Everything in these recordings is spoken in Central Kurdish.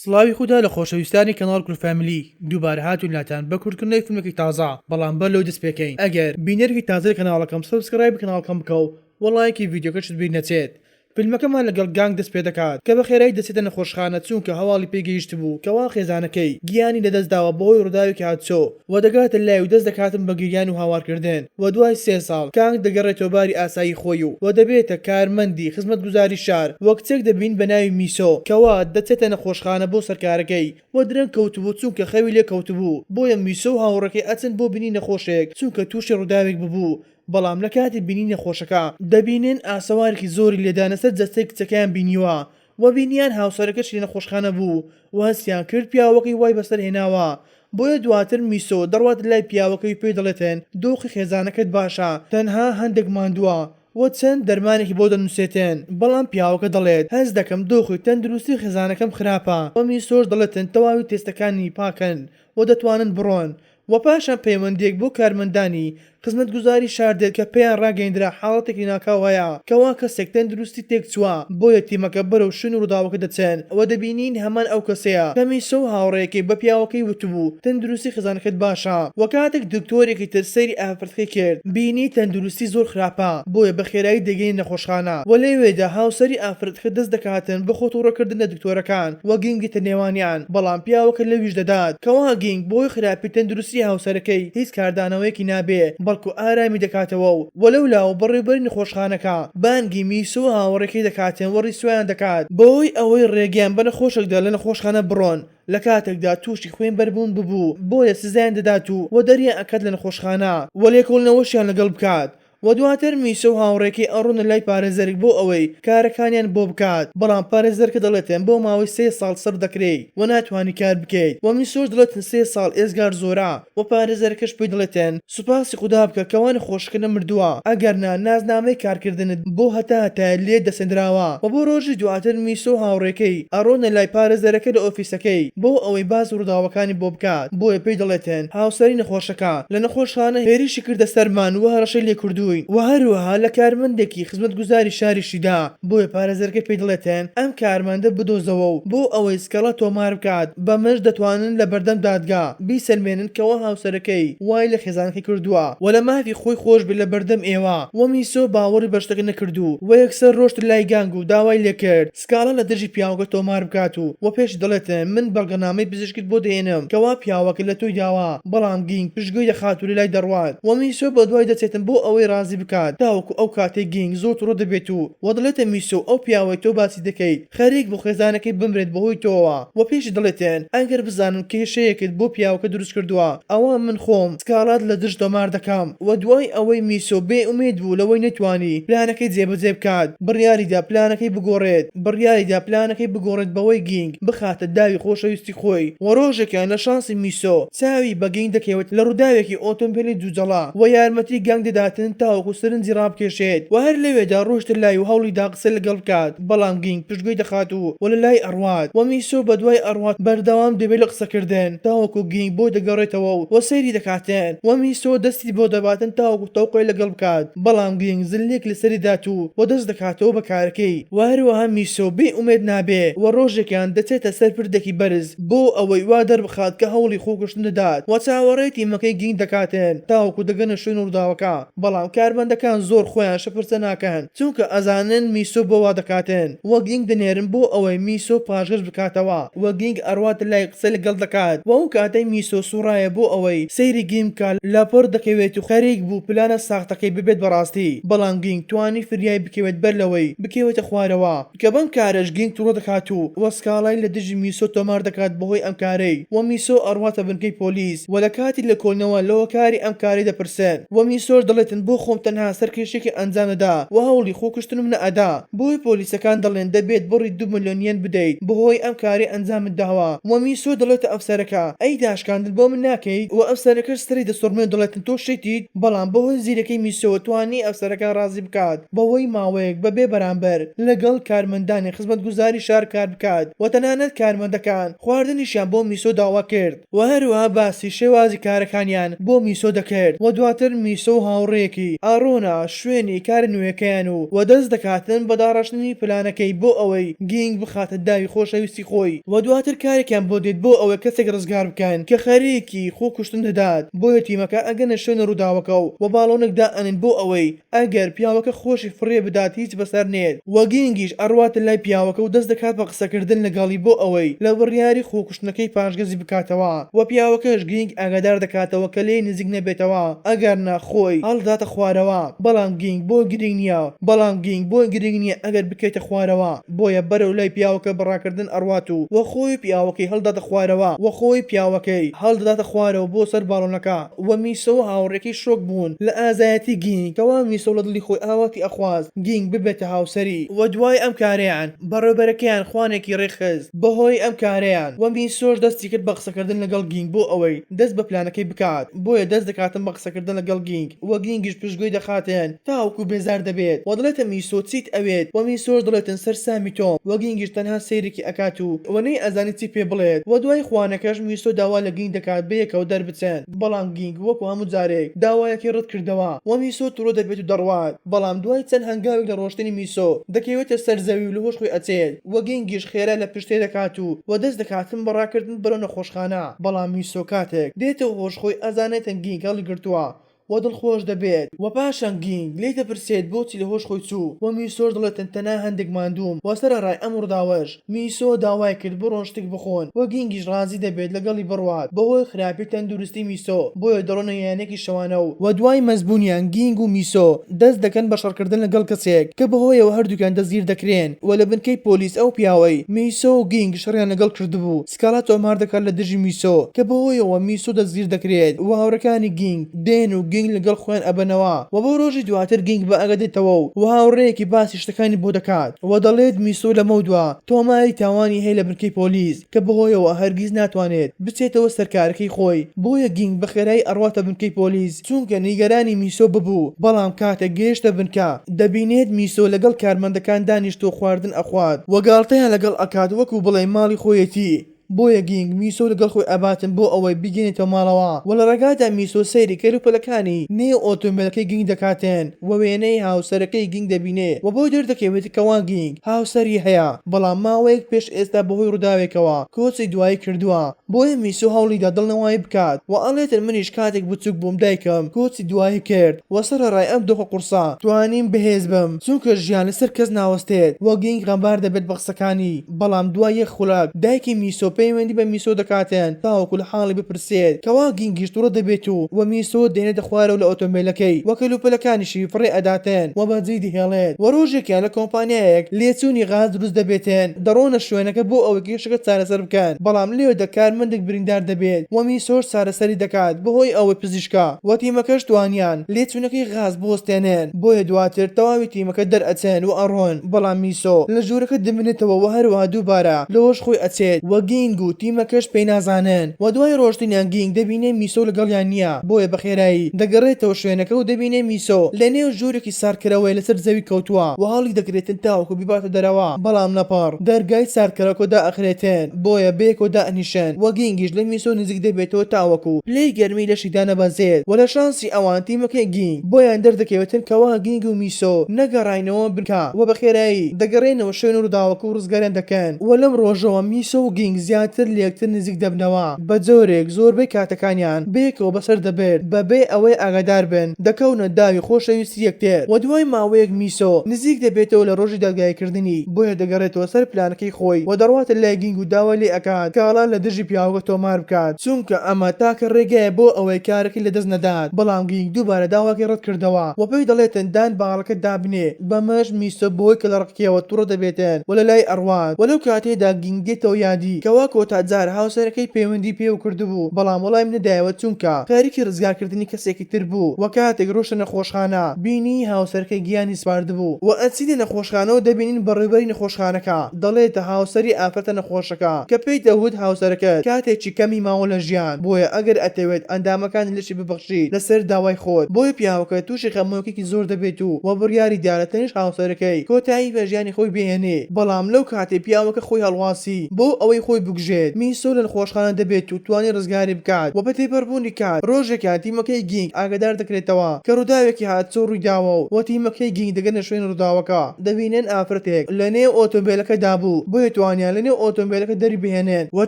سڵاوی خودا لە خۆشەویستانی کەناڵ کورد فامیلی دووبارە هاتوون لاتان بە کورتکردنەوەی فیلمێکی تازە بەڵام بەر لەوەی دەست پێکەین ئەگەر بینەرێکی تازەی کەناڵەکەم سەبسکرایبی کەناڵکەم بکە و وەڵایەکی ڤیدیۆکەشت بیر نەچێت فیلمەکەمان لەگەڵ گانگ دەست پێدەکات کە بەخێرایی دەچێتە نەخۆشخانە چوونکە هەواڵی پێی گەیشتبوو کەوا خێزانەکەی گیانی لەدەست داوە بەهۆی ڕووداوێکی هاتچۆ و دەگاتە لای و دەست دەکاتن بە گریان و هاوار کردن و دوای سێ ساڵ کانگ دەگەڕێتەوە باری ئاسایی خۆی و و دەبێتە کارمەندی خزمەتگوزاری شار و کچێک دەبین بە ناوی میسۆ کەوا دەچێتە نەخۆشخانە بۆ سەرکارەکەی و درەنگ کەوتبوو چونکە خەوی لێ کەوتبوو بۆیە میسۆ و هاوڕێکەی ئەچن بۆ بینی نەخۆشێک چونکە توشی ڕوداوێک ببوو بەڵام لە کاتی بینی نەخۆشەکە دەبینن ئاسەوارێکی زۆری لێدانە سەر جەستەی کچەکەیان بینیوە و بینیان هاوسەرەکەش لە نەخۆشخانە بوو و هەستیان کرد پیاوەکەی وای بەسەر هێناوە، بۆیە دواتر میسۆ دەڕوات لای پیاوەکەی و پێی دەڵێتن دۆخی خێزانەکەت باشە تەنها هەندەک ماندووە و چەند دەرمانێکی بۆ دەنوسێتن، بەڵام پیاوەکە دەڵێت هەست دەکەم دۆخی تەندروستی خێزانەکەم خراپە و میسۆش دەڵێتن تەواوی تێستەکانی پاکن و دەتوانن بڕۆن و پاشان پەیوەندییەک بۆ کارمەندانی خزمەتگوزاری شار دێت کە پێیان ڕاگەیندرا حاڵەتێکی ناکاو هەیە کەوا کەسێک تەندروستی تێکچووە، بۆیە تیمەکە بەرەو شوێنی ڕووداوەکە دەچن و دەبینین هەمان ئەو کەسەیە کە میسۆ و هاوڕێیەکەی بە پیاوەکەی وتبوو تەندروستی خێزانەکەت باشە و کاتێک دکتۆرێکی تر سەیری قسەی کرد بینی تەندروستی زۆر خراپە بۆیە بەخێرایی دەگەینە نەخۆشخانە وە لەوێدا هاوسەری ئافرەتەکە دەست دەکاتن بە خۆ توڕە کردن لە دکتۆرەکان وە گینگ دێتە نێوانیان بەڵام پیاوەکە لەویش دەدات کەوا گینگ بەهۆی خراپی تەندروستی هاوسەرەکەی هیچ کاردانەوەیەکی نابێ بەڵکو ئارامی دەکاتەوە و وە لەولاوە بەڕێوبەری نەخۆشخانەکە بانگی میسۆ و هاوڕێکەی دەکاتن وە ڕیسوایان دەکات بەوەی ئەوەی ڕێگەیان بە نەخۆشێکدا لە نەخۆشخانە بڕۆن لە کاتێکدا تووشی خوێن بەربوون ببوو بۆیە سزایان دەدات و و دەریان ئەکات لە نەخۆشخانە و لێکۆڵنەوەشیان لەگەڵ بکات و دواتر میسۆ و هاوڕێکەی ئەڕۆنە لای پارێزەرێک بۆ ئەوەی کارەکانیان بۆ بکات بەڵام پارێزەرکە دەڵێتن بۆ ماوەی سێ ساڵ سڕ دەکرێی و ناتوانی کار بکەیت و میسۆش دڵێتن سێ ساڵ ئێزگار زۆرە وە پارێزەرەکەش پێی دەڵێتێن سوپاسی خودا بکە کە وانە خۆشەکە نەمردووە ئەگەر نا نازنامەی کارکردنت بۆ هەتا هەتایە لێت دەسێندراوە وە بۆ رۆژی دواتر میسۆ و هاوڕێکەی ئەڕۆنە لای پارێزەرەکە لە ئۆفیسەکەی بۆ ئەوەی باسی رووداوەکانی بۆ بکات بۆیە پێی دەڵێتێن هاوسەری نەخۆشەکە لە نەخۆشخانە هێرشی کردە سەرمان وە هەڕەشەی لێ کردووین وە هەروەها لە کارمەندێکی خزمەتگوزاری شاریشی دا بۆیە پارێزەرەکە پێی دەڵێتێن ئەم کارمەندە بدۆزەوە و بۆ ئەوەی سکاڵا تۆمار بکات بەمەش دەتوانن لە بەردەم دادگا بیسەلمێنن کەوا هاوسەرەکەی وای لە خێزانەکەی کردووە و لە مافی خۆی خۆشبێت لە بەردەم ئێوە و میسۆ باوەڕی بە شتەکە نەکرد و و یەکسەر رۆشت لای گانگ و داوای لێکرد سکاڵا لە دژی پیاوەکە تۆمار بکات و و پێشی دەڵێت من بەڵگەنامەی پزیشکت بۆ دەهێنم کەوا پیاوەکە لە تۆی داوە بەڵام گینگ پشتگوێی دەخات و لە لای دەڕوات و میسۆ بە دوای دەچێتن بۆ ئەوەی رازی بکات تاوەکو ئەو کاتەی گینگ زۆر توڕە دەبێت و و دەڵێتە میسۆ ئەو پیاوەی تۆ باسی دەکەیت خەریک بوو خێزانەکەی بمرێت بەهۆی تۆوە وە پێشی دەڵێتێن ئەگەر بزانم کێشەیەکت بۆ پیاوەکە دروست کردووە ئەوا من خۆم سکاڵات لە دژ تۆمار دەکەم وە دوای ئەوەی میسۆ بێ ئومێد بوو لەوەی نەتوانی پلانەکەی جێبەجێ بکات بڕیاریدا پلانەکەی بگۆڕێت بڕیاریدا پلانەکەی بگۆڕێت بەوەی گینگ بخاتە داوی خۆشەویستی خۆی وە ڕۆژێکیان لە شانسی میسۆ چاوی بە گینگ دەکەوێت لە ڕووداوێکی ئۆتۆمبێلی جوجەڵە وە یارمەتی گانگ دەداتن تاوەکو سەرنجی ڕابکێشێت وە هەر لەوێدا ڕۆیشتە لای و هەوڵیدا قسە لەگەڵ بکات بەڵام گینگ پشتگوێی دەخات و و لەلای ئەڕوات و میسۆ بەدوای ئەڕوات بەردەوام دەبێت لە قسەکردن تاوەکو گینگ بۆ دەگەڕێتەوە و و سەیری دەکاتن و میسۆ دەستی بۆ دەباتن تاوەکو تەوقەی لەگەڵ بکات بەڵام گینگ زللێک لەسەری دات و و دەست دەکاتەوە بە کارەکەی و هەروەها میسۆ بێ ئومێد نابێ و ڕۆژێکیان دەچێتە سەر پردێکی بەرز بۆ ئەوەی وا دەربخات کە هەوڵی خۆکوشتن دەدات و چاوەڕێی تیمەکەی گینگ دەکاتن تاوەکو دەگەنە شوێن ڕووداوەکە. بەڵام کارمەندەکان زۆر خۆیان شپرتە ناکەن چونکە ئەزانن میسۆ بۆ وا دەکاتن وە گینگ دەنێرن بۆ ئەوەی میسۆ پاشگەز بکاتەوە وە گینگ ئەڕواتە لای قسە لەگەڵ دەکات وە ئەو کاتەی میسۆ سوڕایە بۆ ئەوەی سەیری گینگ بکا لەپڕ دەکەوێت و خەریک بوو پلانە ساختەکەی ببێت بەڕاستی بەڵام گینگ توانی فریای بکەوێت بەر لەوەی بکەوێتە خوارەوە. کە بەم کارەش گینگ توڕە دەکات و وە سکاڵای لە دژی میسۆ تۆمار دەکات بەهۆی ئەم کارەی وە میسۆ ئەڕواتە بنکەی پۆلیس وە لە کاتی لێکۆڵینەوە لە هۆکاری ئەم کارەی دەپرسن وە میسۆش دەڵێتن بۆ خۆم تەنها سەرکێشیەکی ئەنجام دەدا وە هەوڵی خۆکوشتنم نەئەدا بۆیە پۆلیسەکان دەڵێن دەبێت بڕی دوو ملیۆن یەن بدەیت بەهۆی ئەم کارەی ئەنجامت داوە وە میسۆ دەڵێتە ئەم سەرەکە ئەی داشکاندن بۆ من ناکەیت وە ئەم سەرەکەش سەری دەسوڕمێ و دەڵێتن تۆ شێتیت بەڵام بەهۆی زیرەکی میسۆوە توانی ئەم سەرەکە ڕازی بکات بەوەی ماوەیەک بە بێ بەرامبەر لەگەڵ کارمەندانی خزمەتگوزاری شار کار بکات و تەنانەت کارمەندەکان خواردنیشیان بۆ میسۆ داوا کرد و هەروەها باسی شێوازی کارەکانیان بۆ میسۆ دەکرد و دواتر میسۆ و هاوڕێیەکی ئارۆنا شوێنی کارە نوێیەکەیان و و دەست دەکاتن بە داڕشتنی پلانەکەی بۆ ئەوەی گینگ بخاتە داوی خۆشەویستی خۆی و دواتر کارێکیان بۆ دێت بۆ ئەوەی کەسێک ڕزگار بکەن کە خەریکی خۆکوشتن دەدات بۆیە تیمەکە ئەگەنە شوێنە ڕووداوەکە و و باڵۆنێک دائەنێن بۆ ئەوەی ئەگەر پیاوەکە خۆشی فڕێ بدات هیچ بەسەر نێت وە گینگیش ئەڕواتە لای پیاوەکە و دەست دەکات بە قسەکردن لەگەڵی بۆ ئەوەی لە بڕیاری خۆکوشتنەکەی پاشگەزی بکاتەوە وە پیاوەکەش گینگ ئاگادار دەکاتەوە کە لێی نزیک نەبێتەوە ئەگەر نا خۆی هەڵدەداتە خوارەوە بەڵام گینگ بۆی گرینگ نیە بەڵام گینگ بۆی گرینگ نیە ئەگەر بکەیتە خوارەوە بۆیە بەرەو لای پیاوەکە بە ڕاکردن ئەڕوات و وە خۆی و پیاوەکەی هەڵدەداتە خوارەوە وە خۆی پیاوەکەی هەڵدەداتە خوارەوە بۆ سەر باڵۆنەکە. و میسۆ و هاوڕێکەی شۆک بوون لە ئازایەتی گینگ کەوا میسۆ لە دڵی خۆی ئاواتی ئەخواست گینگ ببێتە هاوسەری و دوای ئەم کارەیان بەڕێوبەرەکەیان خوانێکی ڕێکخست بەهۆی ئەم کارەیان وە میسۆش دەستی کرد بە قسەکردن لەگەڵ گینگ بۆ ئەوەی دەست بە پلانەکەی بکات بۆیە دەست دەکاتن بە قسەکردن لەگەڵ گینگ وە گینگیش پشتگوێی دەخاتن تاوەکو بێزار دەبێت وە دەڵێتە میسۆ چیت ئەوێت وە میسۆش دەڵێتن سەرسامی تۆم وە گینگیش تەنها سەیرێکی ئەکات و وە نەیئەزانی چی پێ بڵێت وە دوای خوانەکەش میسۆ داوا لە گینگ دەکات بەیەکەوە چن، بەڵام گینگ وەکو هەموو جارێک داوایەکەی ڕەتکردەوە و میسۆ توڕە دەبێت و دەڕوات، بەڵام دوای چەند هەنگاوێک لە ڕۆشتنی میسۆ دەکەوێتە سەر زەوی و لەهۆش خۆی ئەچێت و گینگیش خێرا لە پشتێ دەکات و وەدەست دەکاتن بە ڕاکردن بەرەو نەخۆشخانە، بەڵام میسۆ کاتێک دێتەوە هۆش خۆی ئەزانێتن گینگ هەڵیگرتووە و دڵخۆش دەبێت و پاشان گینگ لێی دەپرسێت بۆچی لە هۆش خۆی چوو و میسۆش دەڵێت تەنتەنا هەندێک ماندووم و سەرەڕای ئەم ڕووداوەش میسۆ داوای کرد بڕۆن شتێک بخۆن و گینگیش ڕازی دەبێت لەگەڵی بڕوات بەهۆی خراپی تەندروستی میسۆ بۆیە دەڕۆنە یانێکی شەوانە و دوای مەست بوونیان گینگ و میسۆ دەست دەکەن بە شەڕکردن لەگەڵ کەسێک کە بەهۆیەوە هەردووکیان دەستگیر دەکرێن و لە بنکەی پۆلیس ئەو پیاوەی میسۆ و گینگ شەڕیان لەگەڵ کردبوو سکالا تۆمار دەکات لە دژی میسۆ کە بەوهۆیەوە میسۆ دەستگیر دەکرێت و هاوڕێکانی گینگ دێن و گینگ لەگەڵ خۆیان ئەبەنەوە و بۆ رۆژی دواتر گینگ بە ئەگە دێتەوە و و هاوڕێیەکی باسی شتەکانی بۆ دەکات و دەڵێت میسۆ لەمەودوا تۆماری تاوانی هەیە لە بنکەی پۆلیس کە بەهۆیەوە هەرگیز ناتوانێت بچێتەوە سەر کارەکەی خۆی بۆیە گینگ بەخێرایی ئەڕواتە بنکەی پۆلیس چونکە نیگەرانی میسۆ ببوو، بەڵام کاتێک گەیشتە بنکە دەبینێت میسۆ لەگەڵ کارمەندەکان دانیشتووە خواردن ئەخوات و گاڵتەیان لەگەڵ ئەکات وەکو بڵێی ماڵی خۆیەتی، بۆیە گینگ میسۆ و لەگەڵ خۆی ئەباتن بۆ ئەوەی بیگەنێتەوە ماڵەوە و لە ڕێگادا میسۆ سەیری کەلوپەلەکانی نێو ئۆتۆمبێلەکەی گینگ دەکاتن و وێنەی هاوسەرەکەی گینگ دەبینێ و بۆی دەردەکەوێت کەوا گینگ هاوسەری هەیە بەڵام ماوەیەک پێش ئێستا بەهۆی ڕووداوێکەوە کۆچی دوایی کردووە. بۆیە میسۆ هەوڵیدا دڵنەوای بکات و ئەڵێتن منیش کاتێک بچوک بووم دایکم کۆچی دوایی کرد و سەرەڕای ئەم دۆخە قورسە توانیم بەهێز بم چونکە ژیان لەسەر کەس ناوەستێت و گینگ غەمبار دەبێت بە قسەکانی بەڵام دوای یەک خولەک دایکی میسۆ پەیوەندی بە میسۆ دەکاتن تاوەکو لە حاڵی بپرسێت کەوا گینگیش توڕە دەبێت و و میسۆ دێنێتە خوارەوە لە ئۆتۆمبێلەکەی و کەلوپەلەکانیشی فڕێ ئەداتن و بە جێی دەهێڵێت و ڕۆژێکیان لە کۆمپانیایەک لێچوونی غاز دروست دەبێتن دەڕۆنە شوێنەکە بۆ ئەوەی مێشکت چارەسەر بکەن بەڵام لەوێدا کارمەندێک بریندار دەبێت و میسۆش چارەسەری دەکات بەهۆی ئەوەی پزیشکە و تیمەکەش توانیان لێچوونەکەی غاز بوەستێنن بۆیە دواتر تەواوی تیمەکە دەرئەچن و ئەڕۆن بەڵام میسۆ لە ژوورەکە دەمێنێتەوە و هەروەها دووبارە لەوەش خۆی ئەچێت و گینگ و تیمەکەش پێی نازانن و دوای ڕۆشتنیان گینگ دەبینێ میسۆ لەگەڵیان نییە بۆیە بەخێرایی دەگەڕێتەوە شوێنەکە و دەبینێ میسۆ لەنێو ژوورێکی ساردکەرەوەی لەسەر زەوی کەوتووە و هەڵی دەگرێتن تاوەکو بیباتە دەرەوە، بەڵام لە پڕ دەرگای ساردکەرەکۆ دائەخرێتن، بۆیە بەیەکەوە دائەنیشن و گینگیش لە میسۆ نزیک دەبێتەوە تاوەکو پلەی گەرمی لەشی دانەبەزێت و لە شانسی ئەوان تیمەکەی گینگ بۆیان دەردەکەوێتن کەوا گینگ و میسۆ نەگەڕاینەوە بنکە و بە خێرایی دەگەڕێنەوە شوێن و ڕووداوەکە و ڕزگاریان دەکەن و لەم ڕۆژەوە میسۆ و گینگ زیاتر لەیەکتر نزیک دەبنەوە بەجۆرێک زۆربەی کاتەکانیان بەیەکەوە بەسەر دەبرد بەبێ ئەوەی ئاگادار بن. دەکەونە داوی خۆشەویستی یەکتر و دوای ماوەیەک میسۆ نزیک دەبێتەوە لە ڕۆژی دادگاییکردنی بۆیە دەگەڕێتەوە سەر پلانەکەی خۆی و دەڕواتە لای گینگ و داوای لێ ئەکات کاڵا لە دژی پیاوەکە تۆمار بکات چونکە ئەمە تاکە ڕێگایە بۆ ئەوەی کارەکەی لە دەست نەدات بەڵام گینگ دووبارە داواکەی ڕەت کردەوە و پێی دەڵێتن دان باڵەکە دابنێ بەمەش میسۆ بەهۆی کەلەڕەقیەوە توڕە دەبێتن و لەلای ئەڕوات وە لەو کاتەیەدا گینگ دێتەوە یادی کەوا کۆتا جار هاوسەرەکەی پەیوەندی پێوە کردبوو بەڵام وەڵامی نەدایەوە چونکە خەریکی ڕزگارکردنی کەسێکی تر بوو و کاتێک ڕۆشتە نەخۆشخانە بینی هاوسەرەکەی گیانی سپاردبوو و ئەچینە نەخۆشخانەوە دەبینین بەڕێوبەری نەخۆشخانەکە دەڵێتە هاوسەری ئافرەتە نەخۆشەکە کە پێی دەوت هاوسەرەکەت کاتێکی کەمی ماوە لە ژیان بۆیە ئەگەر ئەتەوێت ئەندامەکانی لەشی ببەخشیت لەسەر داوای خۆت بۆیە پیاوەکە توشی خەمۆکیەکی زۆر دەبێت و و بڕیاریدا لە تەنیشت هاوسەرەکەی کۆتایی بە ژیانی خۆی بهێنێ بەڵام لەو کاتەی پیاوەکە خۆی هەڵواسی بۆ ئەوەی خۆی بکوژێت میسۆ لە نخۆشخانە دەبێت و توانی ڕزگاری بکات و بە تێپەڕبوونی کات، رۆژێکیان تیمەکەی گینگ ئاگادار دەکرێتەوە کە رووداوێکی هاتسۆ روویداوە و بۆ تیمەکەی گینگ دەگەنە شوێنی رووداوەکە، دەبینن ئافرەتێک لە نێو ئۆتۆمبێلەکەدا بوو، بۆیە توانیان لە نێو ئۆتۆمبێلەکە دەریبهێنن و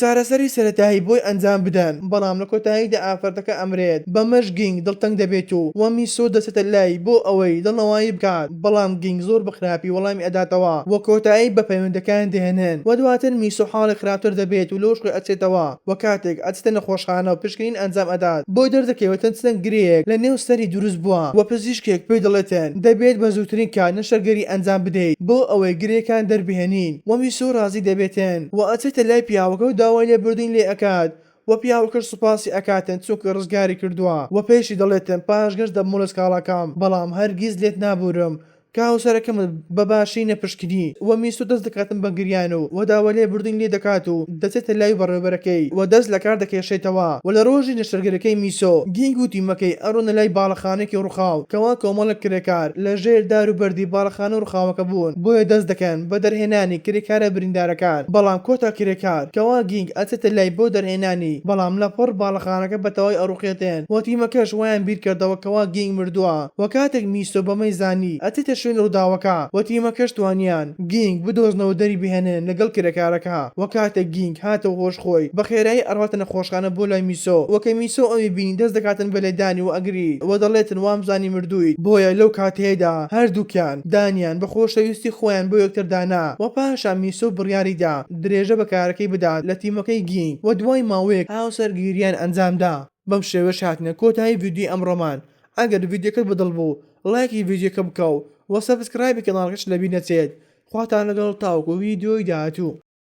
چارەسەری سەرەتایی بۆی ئەنجام بدەن، بەڵام لە کۆتاییدا ئافرەتەکە ئەمرێت، بەمەش گینگ دڵتەنگ دەبێت و میسۆ دەچێتە لای بۆ ئەوەی دڵنەوایی بکات، بەڵام گینگ زۆر بە خراپی وەڵامی ئەداتەوە و کۆتایی بە پەیوەندەکەیان دەهێنن و دواتر میسۆ حاڵی خراپتر دەبێت و لەو شکۆی ئەچێتەوە. وە کاتێک ئەچێتە نەخۆشخانە و پشکنین ئەنجام ئەدات بۆ دەردەکەوێت چەند چەند گرێیەک لە نێو سەری دروست بووە وە پزیشکێک پێی دەڵێتن دەبێت بە زووترین کات نەشتەرگەری ئەنجام بدەیت بۆ ئەوەی گرێکان دەربهێنین وە میسۆ ڕازی دەبێتن وە ئەچێتە لای پیاوەکە و داوای لێبوردنی لێ ئەکات وە پیاوەکەش سوپاسی ئەکاتن چونکە ڕزگاری کردووە وە پێیشی دەڵێتن پاشگەز دەبمەوە لە سکاڵاکەم بەڵام هەرگیز لێت نابورم کە هاوسەرەکەمت بە باشی نەپشکنی و میسو دەست دەکاتن بە گریان و و داوا لێ بردنی لێ دەکات و دەچێتە لای بەڕێوبەرەکەی و دەست لە کار دەکێشێتەوە و لە رۆژی نەشتەرگەرەکەی میسو گینگ و تیمەکەی ئەڕۆنە لای باڵەخانەیەکی روخاو کەوا کۆمەڵێک کرێکار لە ژێر دار و بەردی باڵەخانە روخاوەکە بوون بۆیە دەست دەکەن بە دەرهێنانی کرێکارە بریندارەکان بەڵام کۆتا کرێکار کەوا گینگ ئەچێتە لای بۆ دەرهێنانی بەڵام لە پڕ باڵەخانەکە بە تەواوی ئەڕوخێتێن و تیمەکەش وایان بیرکردەوە کەوا گینگ مردوە. وە کاتێک میسۆ بەمەی زانی ئەچێتە شوێنی ڕوداوەکە وە تیمەکەش توانیان گینگ بدۆزنەوە دەری بهێنن لەگەڵ کرێکارەکە وە کاتێک گینگ هاتەوە هۆش خۆی بە خێرایی ئەڕواتە نەخۆشخانە بۆ لای میسۆ وە کە میسۆ ئەوی بینی دەست دەکاتن بە لێدانی وە ئەگری وە دەڵێتن وامزانی مردویت بۆیە لەو کاتەیەدا هەردوکیان دانیان بە خۆشەویستی خۆیان بۆ یەکتر دانا وە پاشان میسۆ بڕیاری دا درێژە بە کارەکەی بدات لە تیمەکەی گینگ وە دوای ماوەیەک هاوسەرگیریان ئەنجام دا. بەم شێوەیەش هاتینە کۆتایی ڤیدیۆی ئەمڕۆمان ئەگەر ڤیدیۆکەت بەدڵ بوو ڵایکی ڤیدیۆکە بکە و سەبسکرایبی کەناڵەکەشت لەبیر نەچێت خواتان لەگەڵ تاوەکو ڤیدیۆی داهاتوو.